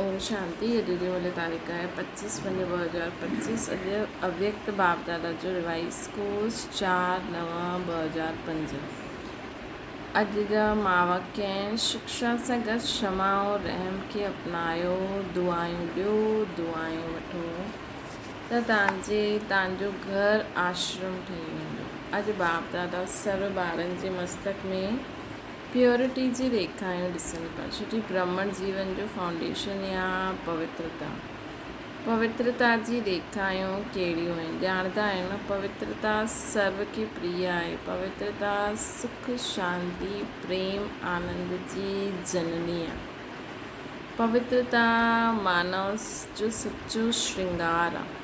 اوم شانتي اڄ جي ولي تاريخ آهي پچيس پنج ٻه هزار پچيس اڄ اويڪت باپ دادا جو ريوائيس ڪوس چار نو ٻه هزار پنج اڄ جا ماء ڪين شڪشا سان گڏ شمع ۽ رحم کي اپنايو دعائون ڏيو دعائون وٺو ته تان جي تان جو گهر آشرم ٺهي ويندو اڄ باپ دادا سر ٻارن جي مستڪ ۾ پيورٽي جي ريکائون ڏسڻ کان سٺي برهمڻ جيون جو فائونڊيشن يا پوترتا. پوترتا جي ريکائون ڪهڙيون آهن؟ ڄاڻندا آهيون نه، پوترتا سرو کي پريء آهي. پوترتا سک، شانتي، پريم، آنند جي جنني آهي. پوترتا مانو جو سچو شرنگار آهي.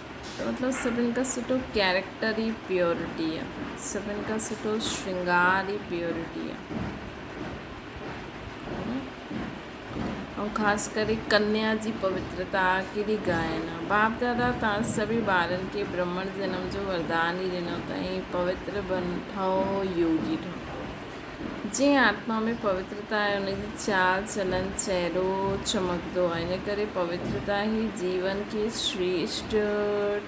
ته مطلب سڀن کان سٺو ڪيريڪٽر ئي پيورٽي آ سڀن کان سٺو شرنگار ئي پيورٽي آ ۽ خاص ڪري ڪنيا جي پوترتا ڪيڏي گائن آ باپ دادا تان سڀي ٻارن کي برهمڻ جنم جو وردان ئي ڏنو تائين پوتر بن ٺهو يوگي ٺهو جيئن آتما ۾ پوترتا آهي، ان جي چال چلن، چهرو چمڪندو آهي، ان ڪري پوترتا ئي جيون کي شريشٽ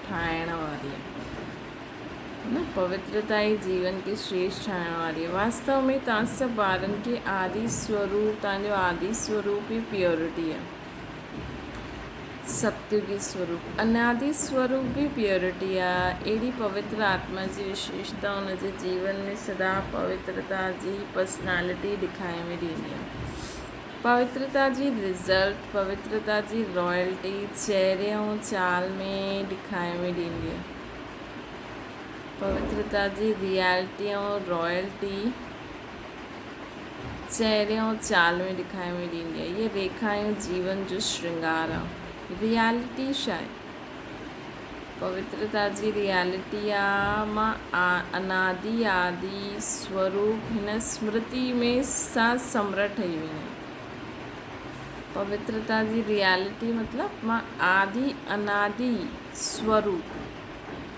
ٺاهڻ واري آهي. پوترتا ئي جيون کي شريشٽ ٺاهڻ واري آهي. واستو ۾ توهان سڀ ٻارن کي آدي سوروپ، توهان جو آدي سوروپ ئي پيورٽي آهي. سپتيوگي سوروپ، انادي سوروپ به پيورٽي آهي. اهڙي پوتر آتما جي وشيشتا ان جي جيون ۾ سدا پوترتا جي ئي پرسنالٽي ڏکائي ۾ ڏيندي آهي. پوترتا جي رزلٽ، پوترتا جي رائلٽي چهري ۽ چال ۾ ڏکائي ۾ ڏيندي آهي. پوترتا جي ريئلٽي ۽ رائلٽي. چهري ۽ چال ۾ ڏکايون ئي ڏيندي آهي. اهي ريکايون جيون جو شرنگار آ. ريئلٽي ڇا آهي؟ پوترتا جي ريئلٽي آ. مان انادي آدي سوروپ هن اسمرتي ۾ سان سمرڻ ٺهي ويندي آهي. پوترتا جي ريئلٽي مطلب مان آدي انادي سوروپ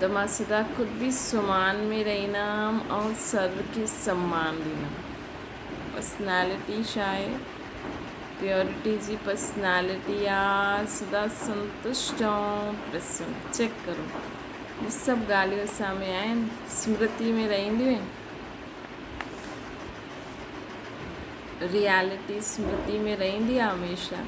ته مان سدا خود به سومان ۾ رهندا هئم ۽ سر کي سمان ڏيندا هئم. پرسنالٽي ڇا آهي؟ پيورٽي جي پرسنالٽي آ سدا سنتشٽ ۽ پرسن. چيڪ ڪرو هي سڀ ڳالهيون اسان ۾ آهن، اسمرتي ۾ رهنديون آهن. ريئلٽي اسمرتي ۾ رهندي آ هميشه.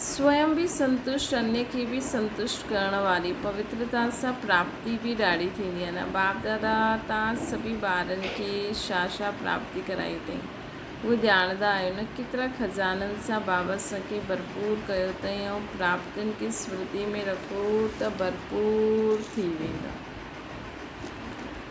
سوئم به سنتشٽ اني کي به سنتشٽ ڪرڻ واري پوترتا سان پراپتي به ڏاڍي ٿيندي اني باپ دادا تان سڀي ٻارن کي شاه شاه پراپتي ڪرائي تئين اهو ڄاڻندا آهيون نه ڪيترا خزانن سان بابا سکي ڀرپور ڪيو تئين ۽ پراپتين کي سمرتي ۾ رکو ته ڀرپور ٿي ويندا.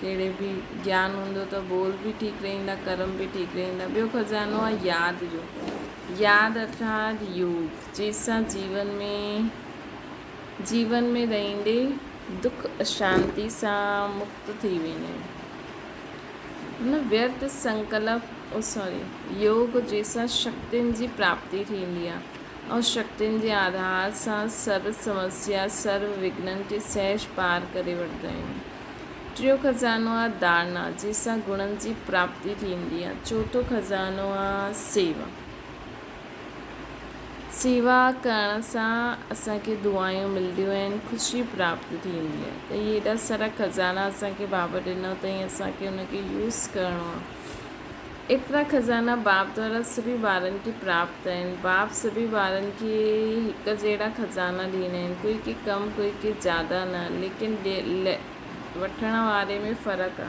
ڪهڙي به جيان هوندو ته ٻول به ٺيڪ رهيندا ڪرم به ٺيڪ رهيندا ٻيو خزانو آهي ياد جو ياد ارٿات يوگ جنهن سان جيون ۾ جيون ۾ رهيندي دک اشانتي سان مڪت ٿي ويندا آهن هن ويرت سنڪلپ سوري يوگ جنهن سان شڪتين جي پراپتي ٿيندي آهي ۽ شڪتين جي آڌار سان سرو سمسيا، سرو وگهنن کي سهج پار ڪري وٺنديون آهن. ٽيون خزانو آهي ڌارنا، جنهن سان گڻن جي پراپتي ٿيندي آهي. چوٿون خزانو آهي سيوا. سيوا ڪرڻ سان اسان کي دعايون ملنديون آهن، خوشي پراپت ٿيندي آهي. ته هي ايڏا سارا خزانا اسان کي بابا ڏنا تئين اسان کي ان کي يوز ڪرڻو آهي. ايترا خزانا باب دوارا سڀي ٻارن کي پراپت آهن. باب سڀي ٻارن کي هڪ جهڙا خزانا ڏيندا آهن. ڪوئي ڪي ڪم ڪوئي ڪي زياده نه ليڪن وٺڻ واري ۾ فرق آ.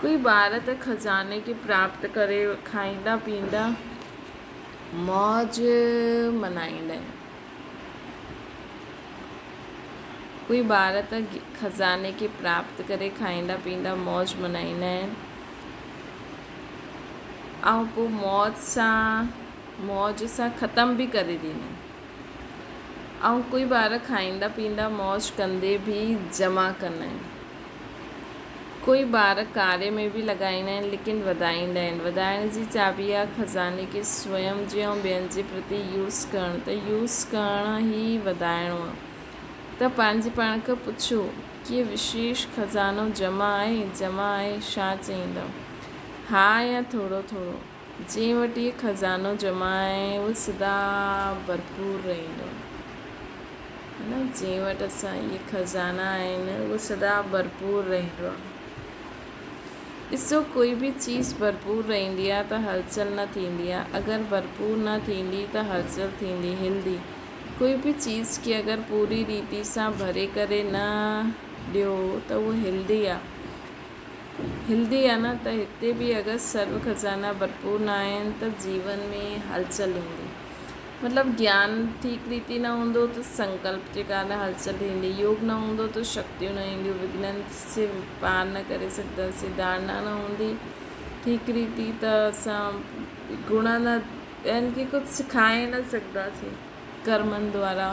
ڪوئي ٻار ته خزاني کي پراپت ڪري کائيندا پيئندا موج منائيندا آهن. ڪوئي ٻار ته خزاني کي پراپت ڪري کائيندا پيئندا موج منائيندا آهن. آئون پوء موت سان موج سان ختم به ڪري ڏيندم. آئون ڪوئي ٻار کائيندا پيئندا موج ڪندي به جمع ڪندا آهن. ڪوئي ٻار ڪاري ۾ به لڳائيندا آهن ليڪن وڌائيندا آهن. وڌائڻ جي چاٻي آهي خزاني کي سوئم جي ۽ ٻين جي پرتي يوز ڪرڻ ته يوز ڪرڻ ئي وڌائڻو آهي ته پنهنجي پاڻ کان پڇو. ڪي وشيش خزانو جمع آهي، جمع آهي، شا چئيندؤ؟ ها يا ٿورو ٿورو؟ جنهن وٽ اهي خزانو جمع آهي، اهو سدا ڀرپور رهيندو. ها نه، جنهن وٽ اسان اهي خزانا آهن، اهو سدا ڀرپور رهيندو آهي. ڏسو، ڪوئي به چيز ڀرپور رهندي آهي ته هلچل نه ٿيندي آهي، اگر ڀرپور نه ٿيندي ته هلچل ٿيندي، هلندي، ڪوئي به چيز کي اگر پوري ريتي سان ڀري ڪري نه ڏيو ته اهو هلندي آ هلندي آ نه ته هتي به اگر سرو خزانا ڀرپور نه آهن ته جيون ۾ هلچل هلندي مطلب گيان ٺيڪ ريتي نه هوندو ته سنڪلپ جي ڪارڻ هلچل ٿيندي يوگ نه هوندو ته شڪتيون نه اينديون وگهنن سي پار نه ڪري سگهنداسين ڌارنا نه هوندي ٺيڪ ريتي ته اسان گڻ نه ٻين کي ڪجھ سکائي نه سگھداسين. ڪرمن دوارا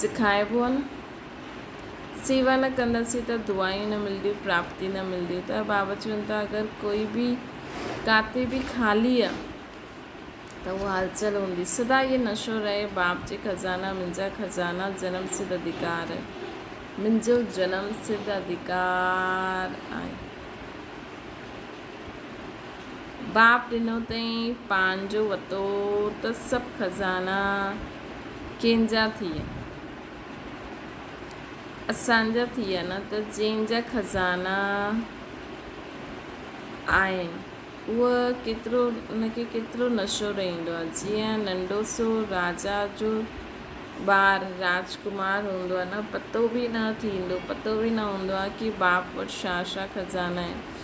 سکائبو آھي نه. سيوا نه ڪنداسين ته دعائون نه ملنديون، پراپتي نه ملنديون. ته بابا چون ٿا اگر ڪوئي به ڪاتي به خالي آ ته اھو ھلچل ھوندي. سدا اھي نشو رھي باب جي خزانا منھنجا خزانا جنم سڌ اڌڪار آھي. منھنجو جنم سڌ اڌڪار آھي. باپ ڏنو تئين پان جو وتو، ته سڀ خزانا ڪنهن جا ٿيئا؟ اسان جا ٿيئا نه ته جنهن جا خزانا آهن، اهو ڪيترو ان کي ڪيترو نشو رهندو آهي. جيئن ننڍو سو راجا جو ٻار، راجڪمار، هوندو آهي نه، پتو به نه ٿيندو، پتو به نه هوندو آهي، ڪي باپ وٽ ڇا ڇا خزانا آهن.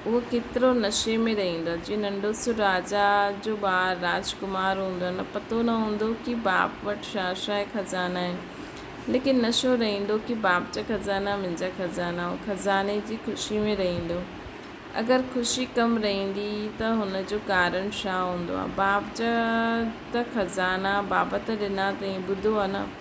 اهو ڪيترو نشي ۾ رهيندو جي ننڍو سو راجا جو ٻار راجڪمار هوندو ان پتو نه هوندو ڪي باپ وٽ ڇا ڇا اهي خزانا آهن ليڪن نشو رهيندو ڪي باپ جا خزانا منهنجا خزانا اهو خزاني جي خوشي ۾ رهيندو اگر خوشي ڪم رهيندي ته هن جو ڪارڻ ڇا هوندو آهي باپ جا ته خزانا بابت ڏنا تئين ٻڌو آهي نه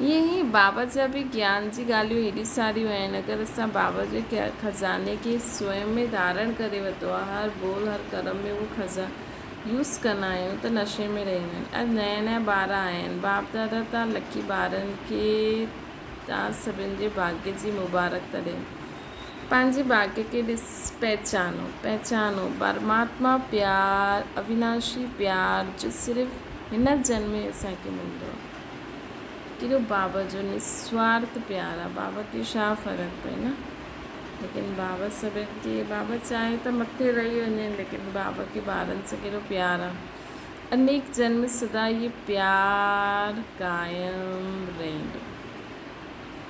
ائين هي بابت جا به گيان جي ڳالهيون هيڏيون ساريون آهن اگر اسان بابت جي خزاني کي سوين ۾ ڌارڻ ڪري ورتو آهي هر ٻول هر ڪرم ۾ اهو خزا يوز ڪندا آهيون ته نشي ۾ رهي وڃ اڄ نيا نيا ٻار آيا آهن باپ دادا تان لکي ٻارن کي تان سڀن جي ڀاڳي جي مبارڪ ته ڏين پنهنجي ڀاڳ کي ڏس پهچانو پهچانو پرماتما پيار اويناشي پيار جو صرف هن جنم ۾ اسان کي ملندو آ ڪيڏو بابا جو نسوارٿ پيار آ بابا کي ڇا فرق پئي نه ليڪن بابا سڀن کي بابا چاهي ته مٿي رهي وڃي ليڪن بابا کي ٻارن سان ڪيڏو پيار آ انيڪ جنم سدا هي پيار قائم رهندو.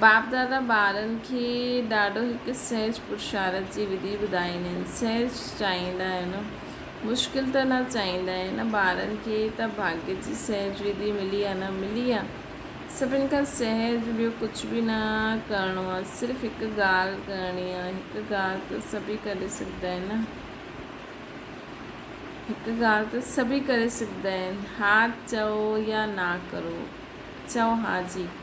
باپ دادا ٻارن کي ڏاڍو هڪ سهج پرشارت جي وڌي ٻڌائيندا آهن. سهج چائيندا آهن. مشڪل ته نه چائيندا آهن. ٻارن کي ته ڀاڳيء جي سهج وڌي ملي آهي نه ملي آهي. سڀن کان سهج ٻيو ڪجهه به نه ڪرڻو آهي. صرف هڪ ڳالهه ڪرڻي آهي. هڪ ڳالهه ته سڀئي ڪري سگهندا آهن نه. هڪ ڳالهه ته سڀئي ڪري سگهندا آهن. ها چئو يا نا ڪرو. چئو ها جي.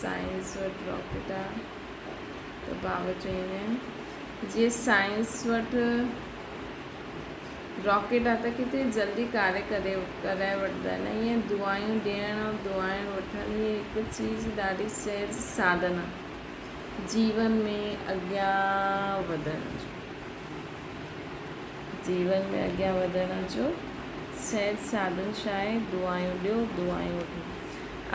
سائنس وٽ راڪيٽ آ ته بابا چونديون آهن جي سائنس وٽ راڪيٽ آ ته ڪٿي جلدي ڪاري ڪري ڪرائي وٺندا آهن ائين دعائيون ڏيڻ ۽ دعائين وٺڻ هي هڪ چيز ڏاڍي سهج ساڌن آ جيون ۾ اڳيان وڌڻ جو جيون ۾ اڳيان وڌڻ جو سيد سادن شاهه دعايون ڏيو دعايون وٺو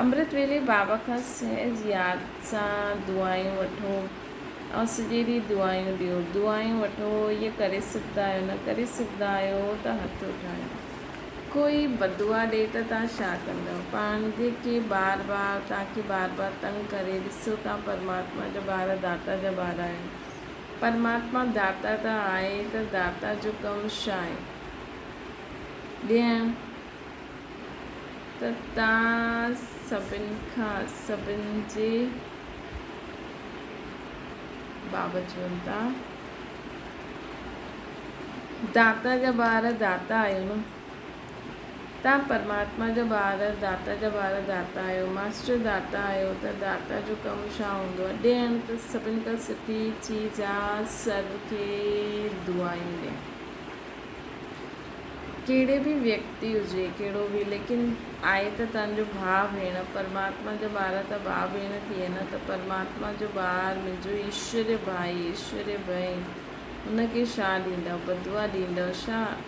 امرت ويلي بابا کان سهج ياد سان دعايون وٺو ۽ سڄي ڏينهن دعايون ڏيو دعايون وٺو اهي ڪري سگهندا آهيو نه ڪري سگهندا آهيو ته هٿ اٺايو ڪوئي بدعا ڏي ته توهان ڇا ڪندؤ پنهنجي کي بار بار توهان کي بار بار تنگ ڪري ڏسو توهان پرماتما جا ٻار داتا جا ٻار آهيو. پرماتما داتا ته آهي ته داتا جو ڪم ڇاهي؟ ڏيڻ ته تان سڀن کان سڀن جي باوجون ٿا. داتا جا ٻار داتا آهيون نه. توهان پرماتما جا ٻار، داتا جا ٻار، داتا آهيو. ماسٽر داتا آهيو ته داتا جو ڪم ڇا هوندو آهي؟ ڏيڻ ته سڀن کان سٺي چيز آ، سڀ کي دعائون ڏيڻ. ڪهڙي به ويڪتي هجي، ڪهڙو به ليڪن آهي ته توهان جو ڀاء ڀيڻ، پرماتما جا ٻار ته ڀاء ڀيڻ ٿي ويا نه ته پرماتما جو ٻار منهنجو ايشوري ڀائي، ايشوري ڀيڻ، ان کي ڇا ڏيندؤ؟ بدعا ڏيندؤ ڇا؟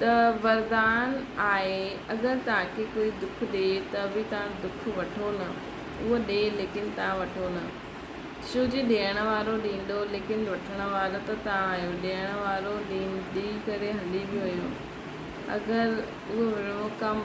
ته وردان آهي اگر توهان کي ڪوئي دک ڏئي ته به توهان دک وٺو نه، اهو ڏئي ليڪن توهان وٺو نه. ڇو جي ڏيڻ وارو ڏيندو ليڪن وٺڻ وارا ته توهان آهيو. ڏيڻ وارو ڏيندي ڪري هلي ويو هيو. اگر اهو وڻيو ڪم.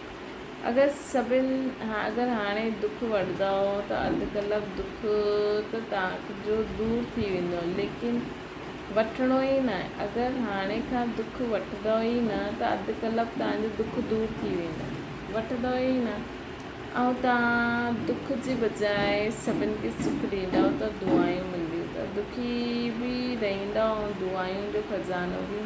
اگر سڀن اگر هاڻي دک وٺدؤ ته اڌ ڪلف دک ته توهان جو دور ٿي ويندو ليڪن وٺڻو ئي ناهي اگر هاڻي کان دک وٺدؤ ئي نه ته اڌ ڪلف توهان جو دک دور ٿي ويندو وٺدؤ ئي نه ۽ توهان دک جي بجاء سڀن کي سک ڏيندؤ ته دعائون ملنديون ته دکي به رهندؤ ۽ دعائن جو خزانو به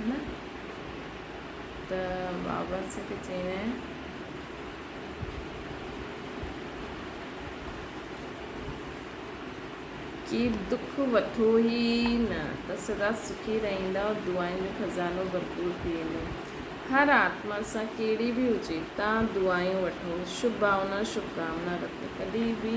ھن ته بابرسي کي چيائين ڪي دک وٺو ئي نه ته سدا سکي رھندا ۽ دعائن جو خزانو ڀرپور ٿي ويندو. ھر آتما سان ڪھڙي به ھجي، تان دعائون وٺو، شڀ ڀاونا شڀڪامنا رکو، ڪڏھن به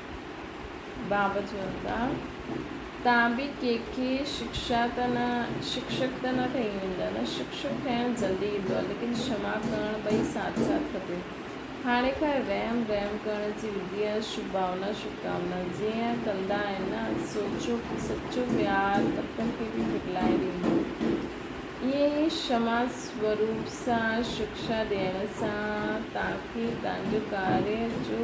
بابا چون ٿا، تان به ڪي ڪي شڪشا ته نه، شڪشڪ ته نه ٺهي ويندا نه، شڪشڪ ٺهڻ جلدي ايندو آهي، ليڪن شمع ڪرڻ ٻئي ساٿ ساٿ کپي. هاڻي خير وهم وهم ڪرڻ جي وديء شڀ ڀاونا شڀ ڪامنا جيئن ڪندا آهن نه، سوچو سچو پيار پٿر کي به پگهلائي ڏيندو، ائين ئي شمع سوروپ سان شڪشا ڏيڻ سان تان کي تان جو ڪاريه جو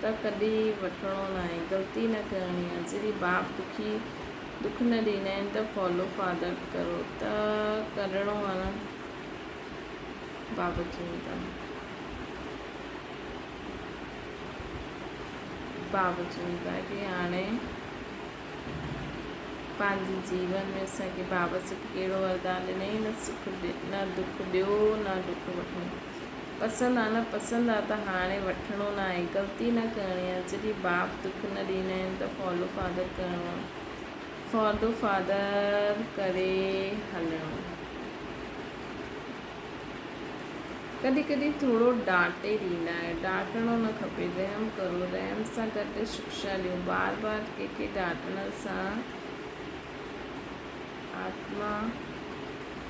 ته ڪڍي وٺڻو ناهي، غلطي نه ڪرڻي آهي، جي باپ دکي دک نه ڏينائين ته فالو فادر ڪرو ته ڪڍڻو آهي نه بابت چون ته بابت چون ته ڪي هاڻي پنهنجي جيون ۾ اسان کي بابت سڀ ڪهڙو وردان ڏنائين نه سک نه دک ڏيو نه ڏک وٺو. پسند آ نه پسند آ ته هاڻي وٺڻو ناهي غلطي نه ڪرڻي آ جڏهن باپ دک نه ڏيندا آهن ته فالو فادر ڪرڻو آ فادو فادر ڪري هلڻو آ ڪڏهن ڪڏهن ٿورو ڊانٽي ڏيندا آهن ڊانٽڻو نه کپي رحم ڪرو رحم سان گڏ شڪشا ڏيون بار بار ڪنهن کي ڊانٽڻ سان آتما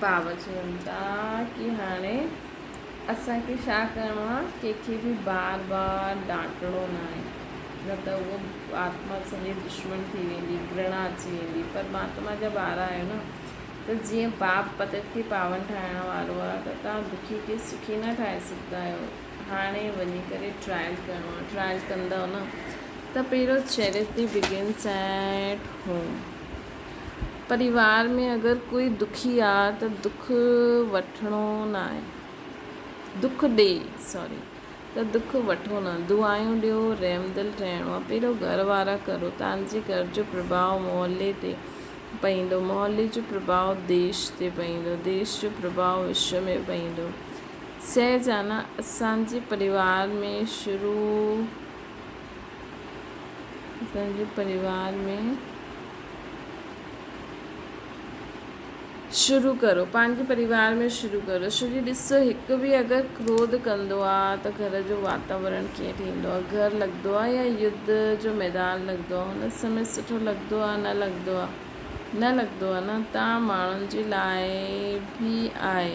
بابا چوندا ڪي هاڻي اسان کي شا ڪرڻو آ ڪي کي بي بار بار ڊانٽڻو نه آهي نه ته هو آتما اسان جي دشمن ٿي ويندي گرڻا اچي ويندي پر ماتما جا بار آهيو نه ته جيئن باپ پتت کي پاون ٺاهڻ وارو آ ته تان دکي کي سکي نه ٺاهي سگهندا آهيو هاڻي وڃي ڪري ٽرائل ڪرڻو آهي ٽرائل ڪندؤ نه ته پهريون چيريٽي بگنس ايٽ هوم پريوار ۾ اگر ڪوئي دکي آ ته دک وٺڻو ناهي دک ڏي سوري ته دک وٺو نه دعايون ڏيو رحم دل ٺهڻو آ پهريون گهر وارا ڪرو تانجي گهر جو پرڀاء محلي تي پئيندو محلي جو پرڀاء ديش تي پئيندو ديش جو پرڀاء وشو ۾ پئيندو سير جانا اسان جي پريوار ۾ شروع ڪرو پنهنجي پريوار ۾ شروع ڪرو ڇو جي ڏسو هڪ به اگر ڪروڌ ڪندو آ ته گهر جو واتاورڻ ڪيئن ٺهندو آ گهر لڳندو آ يا يڌ جو ميدان لڳندو آ هن سمي سٺو لڳندو آ نه لڳندو آ نه لڳندو آ نه تان ماڻهن جي لاء به آهي.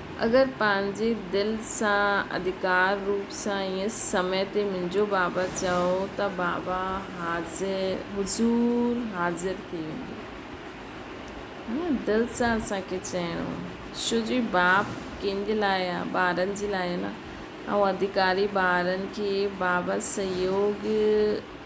اگر پنهنجي دل سان ادهڪار روپ سان ائين سمي تي منهنجو بابا چئو ته بابا حضور حاضر ٿي ويندو. ائين دل سان اسان کي چئڻو ڇو جي باپ ڪنهن جي لاء آ ٻارن جي لاء نه ائون ادهڪاري ٻارن کي بابا سهيوڳ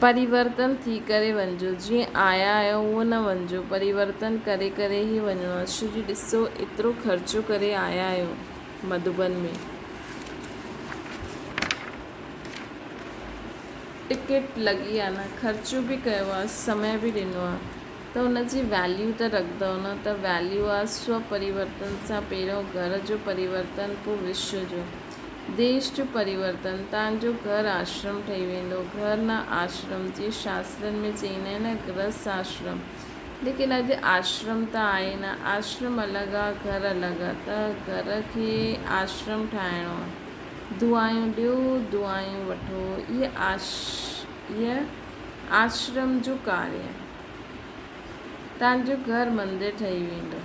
پريورتن ٿي ڪري وڃجو، جيئن آيا آهيو هونء نه وڃجو، پريورتن ڪري ڪري ئي وڃڻو آهي. شري ڏسو، ايترو خرچو ڪري آيا آهيو مڌوبن ۾، ٽڪيٽ لڳي آهي نه، خرچو به ڪيو آهي، سمي به ڏنو آهي، ته ان جي ويليو ته رکندؤ نه، ته ويليو آهي سو پريورتن سان، پهريون گهر جو پريورتن پوء وشو جو. ديش جو پريورتن تان جو گهر آشرم ٺهي ويندو، گهر نه آشرم، جيئن شاسترن ۾ چئيندا آهن نه گرهست آشرم، ليڪن اڄ آشرم ته آهي نه، آشرم الڳ آ گهر الڳ آ ته گهر کي آشرم ٺاهڻو آ، دعايون ڏيو دعايون وٺو اهي اهي آشرم جو ڪاري آهن، تان جو گهر مندر ٺهي ويندو.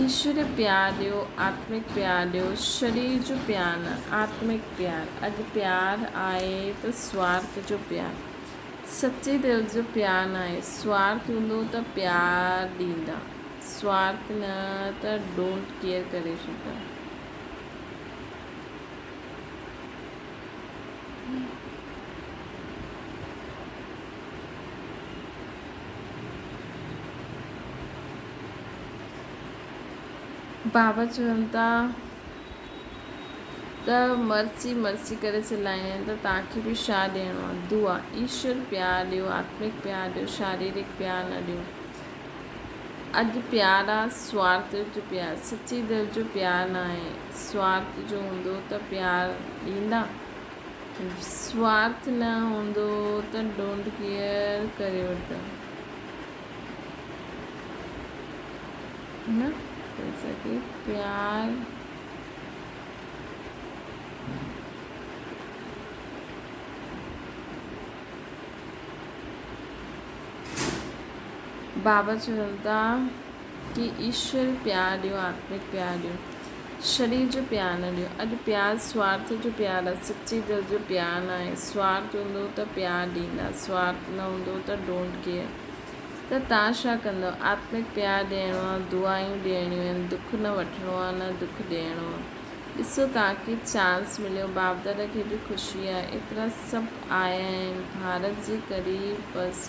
ايشور پيار ڏيو آتمڪ پيار ڏيو شرير جو پيار نه آتمڪ پيار اڄ پيار آهي ته سوارٿ جو پيار سچي دل جو پيار ناهي سوارٿ هوندو ته پيار ڏيندا سوارٿ نه ته ڊونٽ ڪيئر ڪري ڇڏيندا. بابت چون ٿا ته مرسي مرسي ڪري چلائين ۽ ته توهان کي به شاهه ڏيڻو آهي. دعا، ايشور پيار ڏيو، آتمڪ پيار ڏيو، شاريرڪ پيار نه ڏيو. اڄ پيار آهي، سوارٿ جو پيار، سچي دل جو پيار ناهي. سوارٿ جو هوندو ته پيار ڏيندا؟ سوارٿ نه هوندو ته ڊونٽ ڪيئر ڪري وٺندا. هن پيسي کي پيار بابت چيو ٿا ڪي ايشور پيار ڏيو آتمڪ پيار ڏيو شرير جو پيار نه ڏيو. اڄ پيار سوارٿ جو پيار آهي، سچي دل جو پيار ناهي. سوارٿ هوندو ته پيار ڏيندا، سوارٿ نه هوندو ته ڊونٽ ڪيئر ته تان ڇا ڪندؤ. آتمڪ پيار ڏيڻو آهي، دعائيون ڏيڻيون آهن، دک نه وٺڻو آهي نه دک ڏيڻو آهي. ڏسو توهان کي چانس مليو، باپدادا کي به خوشي آهي. ايترا سڀ آيا آهن ڀارت جي قريب بس.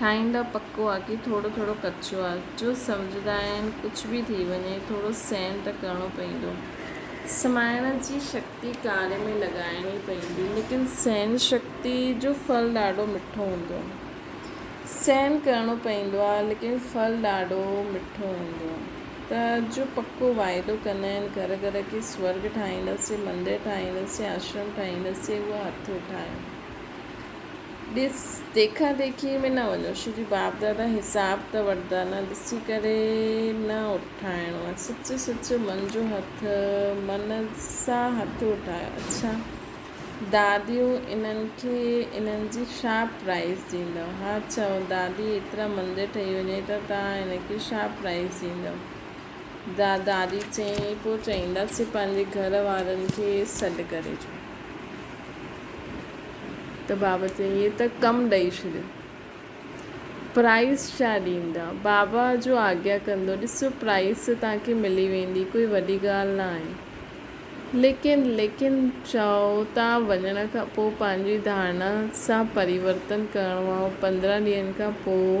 ٺاهيندا پڪو آ ڪي ٿورو ٿورو ڪچو آ جو سمجهدا آهن ڪجهه به ٿي وڃي ٿورو سهن ته ڪرڻو پئيندو سمائڻ جي شڪتي ڪاري ۾ لڳائڻي پئيندي ليڪن سهن شڪتي جو ڦل ڏاڍو مٺو هوندو سهن ڪرڻو پئيندو آ ليڪن ڦل ڏاڍو مٺو هوندو ته جو پڪو واعدو ڪنهن گهر گهر کي سورگ ٺاهينداسين مندر ٺاهينداسين آشرم ٺاهينداسين اهو هٿ اٺايو. ڏس، ديکا ديکيء ۾ نه وڃو. شري باپ دادا حساب ته وٺندا نه. ڏسي ڪري نه اٺائڻو آهي. سچ سچ من جو هٿ من سان هٿ اٺايو. اڇا، داديون انهن کي انهن جي ڇا پرائيز ڏيندؤ؟ ها چئو دادي، ايترا مندر ٺهي وڃي ته توهان هن کي ڇا پرائيز ڏيندؤ؟ دادي چيائين، پوء چئينداسين پنهنجي گهر وارن کي سڏ ڪري جو. ته بابا چيائين هي ته ڪم ڏئي ڇڏيو. پرائيس ڇا ڏيندا. بابا جو آگيا ڪندو ڏسيو پرائيس ته توهان کي ملي ويندي ڪوئي وڏي ڳالهه نه آهي. ليڪن ليڪن چئو ته وڃڻ کان پوء پنهنجي ڌارڻا سان پريورتن ڪرڻو آهي. پندرهن ڏينهن کان پوء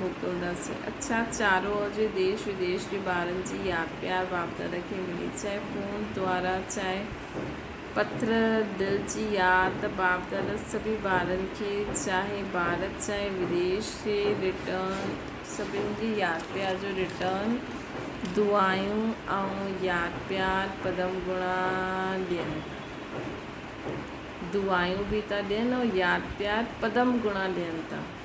موڪل ڏس. اڇا چارو هجي ديش وديش جي ٻارن جي ياد پيار بابداد کي ملي چاهي فون دوارا چاهي پٿر دل جي ياد ته بابداد سڀي ٻارن کي چاهي ڀارت چاهي وديش جي رٽرن سڀن جي ياد پيار جو رٽرن دعايون ۽ ياد پيار پدم گڻا ڏين دعايون به ٿا ڏين ۽ ياد پيار پدم گڻا ڏين ٿا.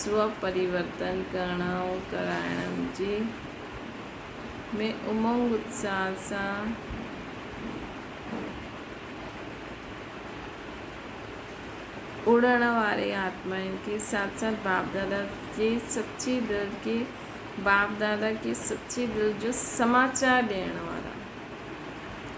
سوپريورتن ڪرڻ ۽ ڪرائڻ جي ۾ امنگ اتساهه سان اڙڻ واري آتمائن کي ساٿ ساٿ باپ دادا جي سچي دل کي باپ دادا کي سچي دل جو سماچار ڏيڻ وارا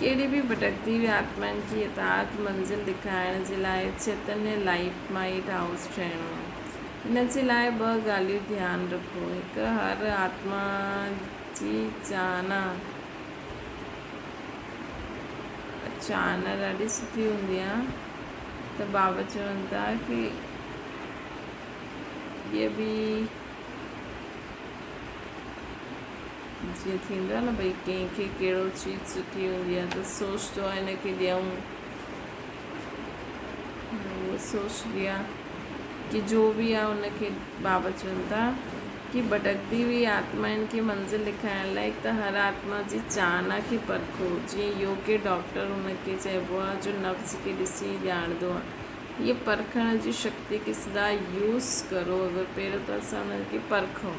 ڪهڙي به ڀٽڪندي ويل آتمائن کي يٿارٿ منزل ڏيکارڻ جي لاء چيتن يا لائيٽ مائيٽ هائوس ٺهڻو آهي. ان جي لاء ٻه ڳالهيون ڌيان رکو، هڪ هر آتما جي چاهنا، چاهنا ڏاڍي سٺي هوندي آهي ته بابا چون ٿا ڪي ڪي به جيئن ٿيندو آهي نه ڀئي ڪنهن کي ڪهڙو چيز سٺي هوندي آهي ته سوچتو آهي هن کي ڏيئون هو سوچدي آهي ڪي جو به آهي هن کي بابا چون ٿا ڪي ڀٽڪدي وئي آتمائن کي منزل ڏکائڻ لاء هڪ ته هر آتما جي چاهنا کي پرکو جيئن يوگي ڊاڪٽر هن کي چئبو آهي جو نبض کي ڏسي ڄاڻدو آهي هيء پرکڻ جي شڪتي کي سدا يوز ڪرو اگر پهريون ته اسان هن کي پرکون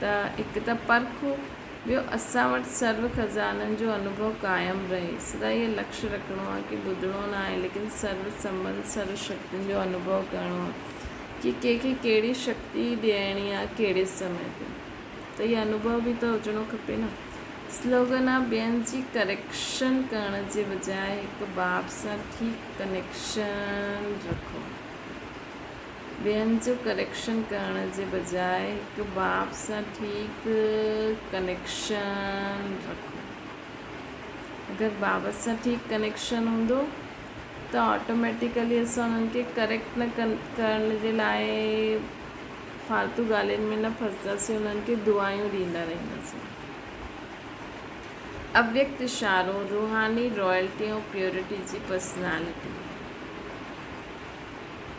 ته هڪ ته پرک هو، ٻيو اسان وٽ سرو خزانن جو انوڀو قائم رهي. سدا اهو لڪش رکڻو آهي ڪي ٻڌڻو نه آهي ليڪن سرو سنبنڌ، سرو شڪتين جو انوڀو ڪرڻو آهي ڪي ڪنهن کي ڪهڙي شڪتي ڏيڻي آهي ڪهڙي سمي تي ته اهو انوڀو به ته هجڻو کپي نه. سلوگن آهي ٻين جي ڪريڪشن ڪرڻ جي بجاء هڪ ٻاٻ سان ٺيڪ ڪنيڪشن رکو. ٻين جو ڪريڪشن ڪرڻ جي بجاء هڪ باب سان ٺيڪ ڪنيڪشن رکو. اگر باب سان ٺيڪ ڪنيڪشن هوندو ته آٽوميٽيڪلي اسان انهن کي ڪريڪٽ نه ڪرڻ جي لاء فالتو ڳالهين ۾ نه ڦسنداسين انهن کي دعايون ڏيندا رهنداسين. اويڪٽ اشارو، روحاني رائلٽي ۽ پيورٽي جي پرسنالٽي.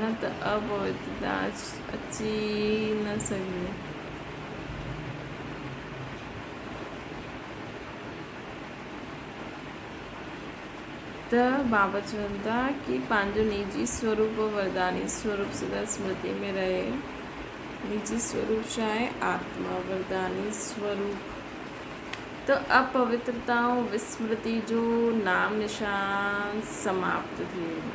نه ته اهو احتجاج اچي نه سگهي. ته بابا چون ٿا ڪي پنهنجو نجي سوروپ ورداني سوروپ سدا سمرتي ۾ رهي. نجي سوروپ ڇا آهي؟ آتما ورداني سوروپ ته اپوترتائون وسمرتي جو نام نشان سماپت ٿئي ويندو.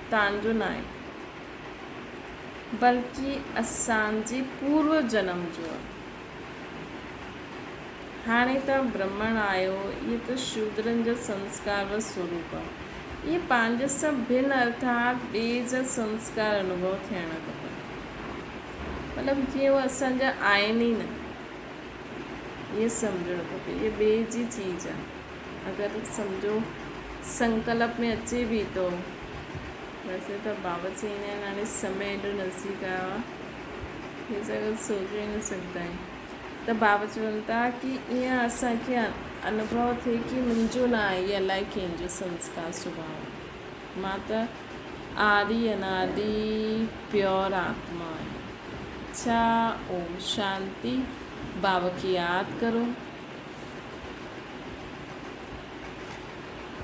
پاڪستان جو ناهي بلڪ اسان جي پورو جنم جو آهي. هاڻي ته برهمڻ آيو اهي ته شودرن جا سنسڪار و سوروپ آهن. اهي پنهنجي سان ڀن ارٿات ٻئي جا سنسڪار انوڀو ٿيڻ کپن. مطلب جيئن اهي اسان جا آهن ئي نه. اهي سمجهڻ کپي اهي ٻئي جي چيز آهن. اگر سمجهو سنڪلپ ۾ اچي به ٿو. ويسي ته باورچي ايندا آهن هاڻي سمي ايڏو نزديڪ آيو آهي ڪي شاگرد سوچي ئي نه سگهندا آهن ته باورچي چون ٿا ڪي ايئن اسان کي انڀو ٿئي ڪي منهنجو نه آهي هي الائي ڪنهن جو سنسڪار سڀاء مان ته آدي انادي پيور آتما آهيان ڇا اوم شانتي باوقيات ڪرو.